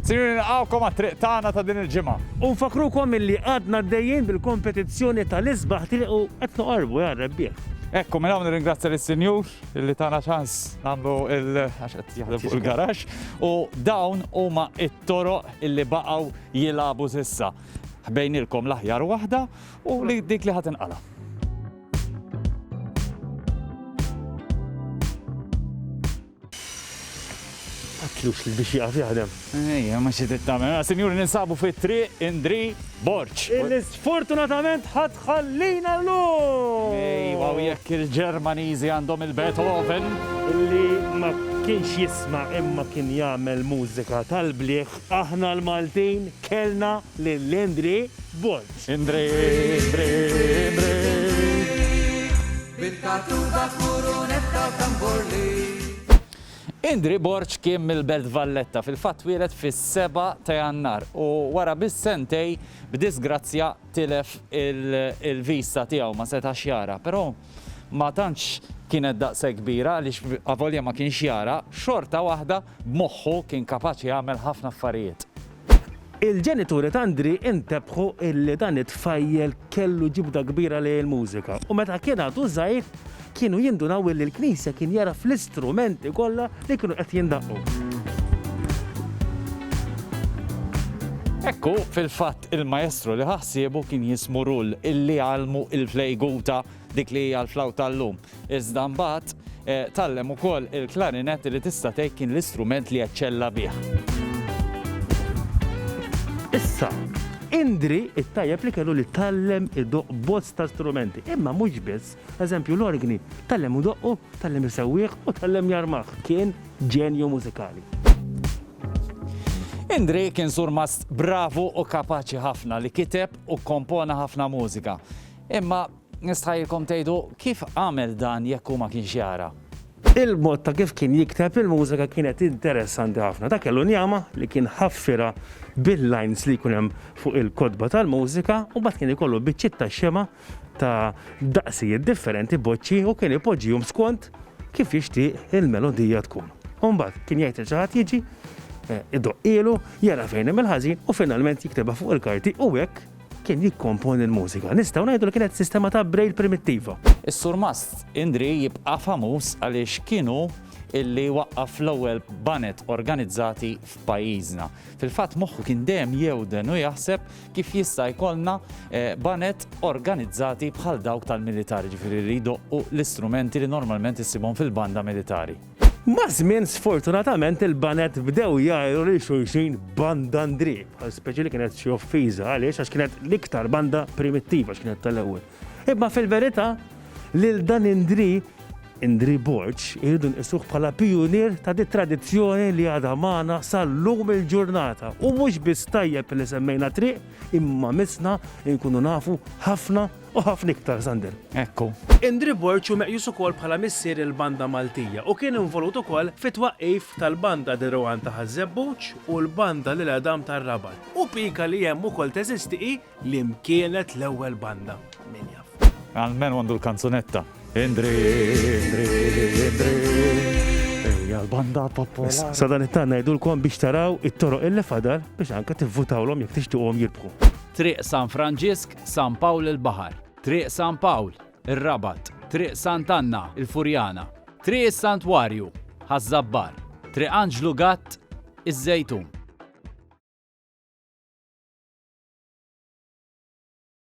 Sinjuri nilqgħukom għat-triq tagħna ta' din il-ġimgħa. U nfakkrukom illi għadna għaddejjin bil-kompetizzjoni tal-isbaħ triq u qed noqorbu għar-rebbieħ. Hekk u minn hawn nirringrazzja lis-Sinjur illi tana ċans nagħmlu il-, għax qed jaħdem fuq il-garaxx, u dawn huma t-toroq illi baqgħu jilagħbu s'issa. Ħbejnielkom l-aħjar waħda u dik li ħa tinqala'. Għatlux li biex jgħaf jaħdem. Ejja, ma xi tittamel. Mela, sinjuri, ninsabu fit tri indri borċ. Illi sfortunatament ħad ħallina l Ejwa, u jekk il-Ġermaniżi għandhom il-Beethoven. Illi ma kienx jisma imma kien jagħmel mużika tal-bliħ, aħna l-Maltin kellna lill-Indri Borċ. Indri, indri, indri. Bil-katuba, kurunetta u tamborli. Indri Borg kien mill-Belt Valletta, fil-fatt twieled fis-seba' ta' Jannar u wara biss sentej b'disgrazzja tilef il-vista tiegħu, ma setax jara. Però ma tantx kienet daqshekk kbira għaliex avolja ma kienx jara, xorta waħda b'moħħu kien kapaċi jagħmel ħafna affarijiet. Il-ġenituri ta' André intebħu li dan it-tfajjel kellu ġibda kbira lejn il-mużika u meta kien għadu żgħir kienu jindunaw li l-Knisja kien jagħraf l-istrumenti kollha li kienu qed jindaqqu. Hekk hu, fil-fatt il-maestro li ħa ħsiebu kien jismu Rull illi għallmu il-flejguta dik li hija l-flawta llum, iżda mbagħad tgħallem ukoll il-klarinett li tista' tgħid kien l-istrument li eċċella bih. Issa, Indri it-tajjeb li kellu li tgħallem idoqq bosta strumenti, imma mhux biss, eżempju l-orgni, tgħallem idoqqu, tgħallem isewwih u tgħallem jarmah, kien ġenju mużikali. Indri kien surmast bravu u kapaċi ħafna li kiteb u kkompona ħafna mużika. Imma nistħajjilkom tgħidu kif għamel dan jekk hu ma kienx jara. Il-mod ta' kif kien jikteb il-mużika kienet interessanti ħafna. Ta' kellu njama li kien ħaffira bil-lines li jkun hemm fuq il-kotba tal-mużika u mbagħad kien ikollu biċċiet ta' xema ta' daqsijiet differenti boċċi u kien ipoġġihom skont kif jixtieq il-melodija tkun. U mbagħad kien jgħid li ħadd jiġi eh, idoqqielu, jara fejn hemm il-ħażin u finalment jiktebha fuq il-karti u hekk Kien jikkomponi l-mużika. Nistgħu ngħidu li kienet sistema ta' Braille primittiva. Is-Surmast Indri jibqa' famuż għaliex kien hu illi waqqaf l-ewwel banet organizzati f'pajjiżna. Fil-fatt moħħu kien dejjem jewden u jaħseb kif jista' jkollna eh, banet organizzati bħal dawk tal-militari, ġifieri li jdoqqu l-istrumenti li normalment issibhom fil-banda militari. Maż-żmien sfortunatament il-baned bdew jgħajru lil xulxin banda ndri, bħal speċi li kienet xi offiża għaliex għax kienet l-iktar banda primittiva x'kienet tal-ewwel. Imma fil-verità lil dan indri, Indri Borg, irridu nqisuh bħala pijunier ta' dit-tradizzjoni li għadha magħna sal-lum il-ġurnata u mhux biss tajjeb li semmejna triq imma missna nkunu nafu ħafna U ħafna iktar, Sander. Ekku. Indri Borg hu meqjus ukoll bħala missier il-Banda Maltija u kien involut ukoll fit-twaqqif tal-Banda De Rohan ta' Ħaż-Żebbuġ u l-Banda Lil Adam tar-Rabat u pika li hemm ukoll teżisti hi li mkienet l-ewwel banda. Min jaf. Għal men għandu l-kanzunetta. Indri, Indri, Indri. Ejja l-banda popolari. Sa dan it-tan ngħidulkom biex taraw it-toroq illi fadal biex anke tivvutawlhom jekk tixtiequhom jirbħu. Triq San Franġisk, San Pawl il-Baħar, Triq San Pawl, ir-Rabat, Triq Sant'Anna, il-Furjana, Triq is-Santwarju, Ħaż-Żabbar, Triq Anġlu Gatt, iż-Żejtun.